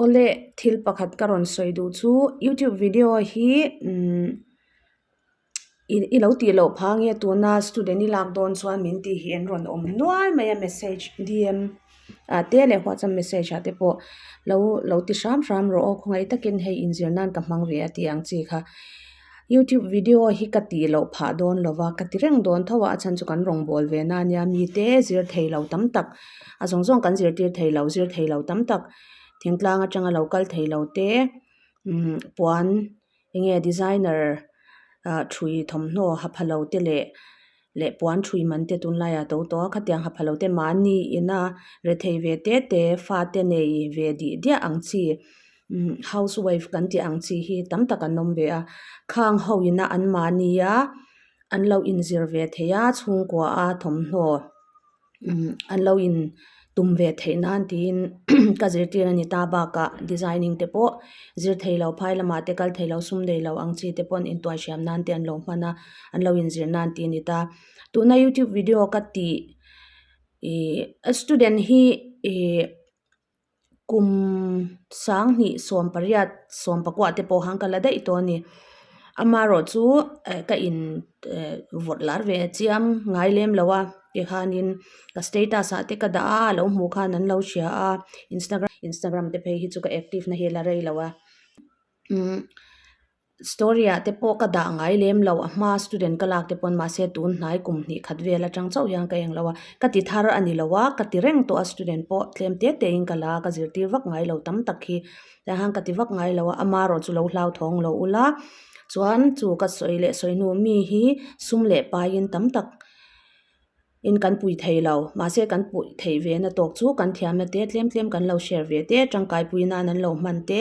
Awle thil pakhat ka rawn sawi duh chu YouTube video hi umm i lo tih loh pha nge tuna student i lak dawn chuan min tih hi an rawn awm nual mai a message dm ah te leh whatsapp message ah te pawh lo lo ti hram hram rawh aw khawngei takin hei inzir nan ka hmang ve a tih ang chi kha. YouTube video hi ka tih loh phah dawn lo va, ka ti reng dawn tho a, a chhan chu kan rawn bawl ve na nia, mite zirthei lo tam tak, a zawng zawng kan zirtir thei lo, zirthei lo tam tak, thingtlang atanga lo kal thei lo te, umm puan enge designer ah ṭhui thawmhnaw hapha lo te leh. leh puan thui man te tun laia to tawh a khatiang ha pha lo te mahni ina rethei ve te te fate nei ve dih diah ang chi umm house wife kan tih ang chi hi tam tak an awm ve a khang ho ina an mahni a an lo inzir ve thei a chhungkua a thawmhnaw-- an lo in tum ve theih nan tiin ka zirtir a ni ta bakah designing te pawh zirthei lo phai lamah te kal theih lo sum nei lo ang chi te pawh in tuai hriam nan te an lo hman a an lo in zir nan tih a ni ta tuna youtube video ka tih ih student hi ih-- kum sang hnih sawm pariat sawm pakua te pawh han ka la daih tawh a ni ama erawh chu eh ka in eh vawt lar ve chiam ngai lem lo a tikhanin ka status ah te ka dah a a lo hmuh khan an lo hria a instagram te phei hi chu ka active nahila rei lo a. story ah te pawh ka dah ngai lem lo a hma student ka lak te pawn mahse tun hnai kum hnih khat vel atang chauh hian ka englo a ka ti thar a ni lo a ka ti reng tawh a student pawh tlem te te in ka la ka zirtir vak ngai lo tam tak hi tiah han ka ti vak ngai lo a ama erawh chu lo hlauthawng loh ula chuan chu ka sawi leh sawi hnu mi hi sum leh paiin tam tak-- in kan pui thei lo, mahse kan pui theih ve na tawk chu kan thiamna te tlem tlem kan lo share ve te, tangkai pui nan an lo hman te,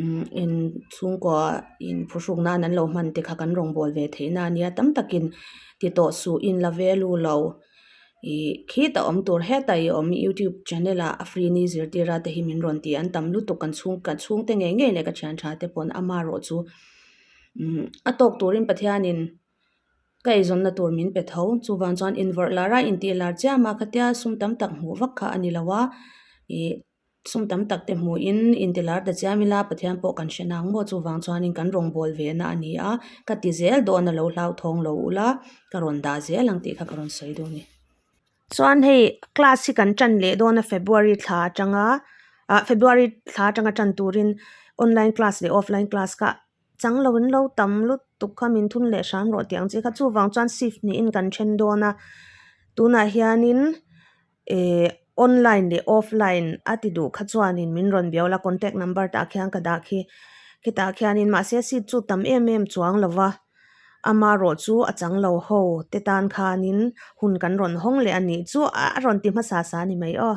umm in chhungkaw in phu hruk nan an lo hman te kha kan rawn bawl ve thei na nia tam tak in ti tawh suh in la ve lu lo, ih khit a awm tur heta i awm i youtube channel ah a free ni zirtir a te hi min rawn ti an tam lutuk kan chhung kan chhung te ngei ngei leh ka thian tha te pawn ama erawh chu umm a tawk turin pathian in. ka eizawnna tur min pe tho, chuvang chuan invarh lar a, intih lar chiam a, khatia sum tam tak hmuh vak kha a ni lo a, ih sum tam tak te hmuhin inti lar ta chiam ila Pathian pawh kan hre nang maw chuvang chuanin kan rawngbâwl ve na a ni a, ka ti zel dawn a lo hlauthawng lo ula, ka rawn dah zel ang tih kha ka rawn sawi dawn a ni. Chuan hei class hi kan ṭan leh dawn a February thla aṭanga, ah February thla aṭanga ṭan turin online class leh offline class kha, Chang lo in lo tam lutuk kha min thun leh hram rawh tih ang chi kha chuvang chuan shift niin kan then dawn a tunah hianin ihh online leh offline a ti duh kha chuanin min rawn bial a contact number tah khian ka dah khi khitah khianin mahse seat chu tam em em chuang lo va amarawh chu a chang lo ho te tan khanin hun kan rawn hawng leh a nih chu a rawn ti hmasa sa ni mai aw.